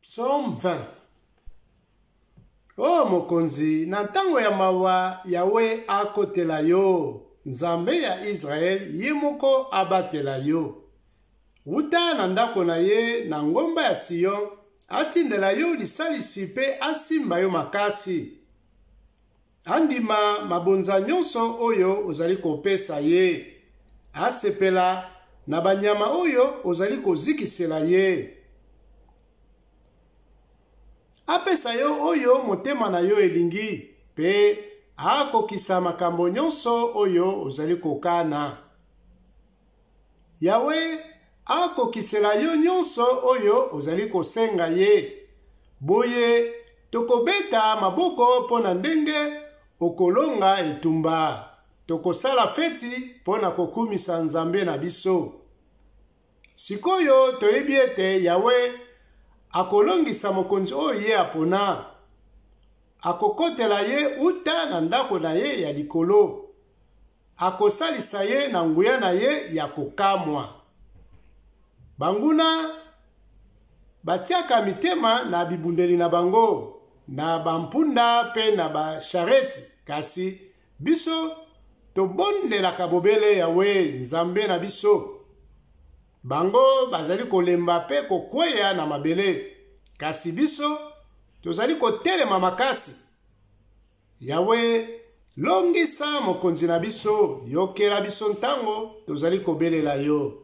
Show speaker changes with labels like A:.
A: Psaume 20 O oh, mokonzi, na ntango ya mawa, Yawe akotela yo, Nzambe ya Israel ye moko abatela yo. Wuta na ndako na ye na ngomba ya Sion, atindela yo lisalisi mpe asimba yo makasi. Andima mabonza nyonso oyo ozali kopesa ye. Asepela na banyama oyo ozali kozikisela ye. Apesa yo oyo motema na yo elingi, mpe akokisa makambo nyonso oyo ozali kokana. Yawe akokisela yo nyonso oyo ozali kosenga ye. Boye tokobeta maboko mpo na ndenge okolonga etumba. Tokosala feti mpo na kokumisa Nzambe na biso. Sikoyo toyebi ete Yawe akolongisa mokonzi oyo ye apona. Akokotela ye uta na ndako na ye ya likolo. Akosalisa ye na nguya na ye ya kokamwa. Banguna batiaka mitema na bibundeli na bango, na bampunda mpe na bashareti, kasi biso tobondelaka bobele Yawe Nzambe na biso. Bango bazali kolemba mpe kokweya na mabele, kasi biso tozali kotelema makasi. Yawe, longisa mokonzi na biso, yokela biso ntango tozali kobelela yo.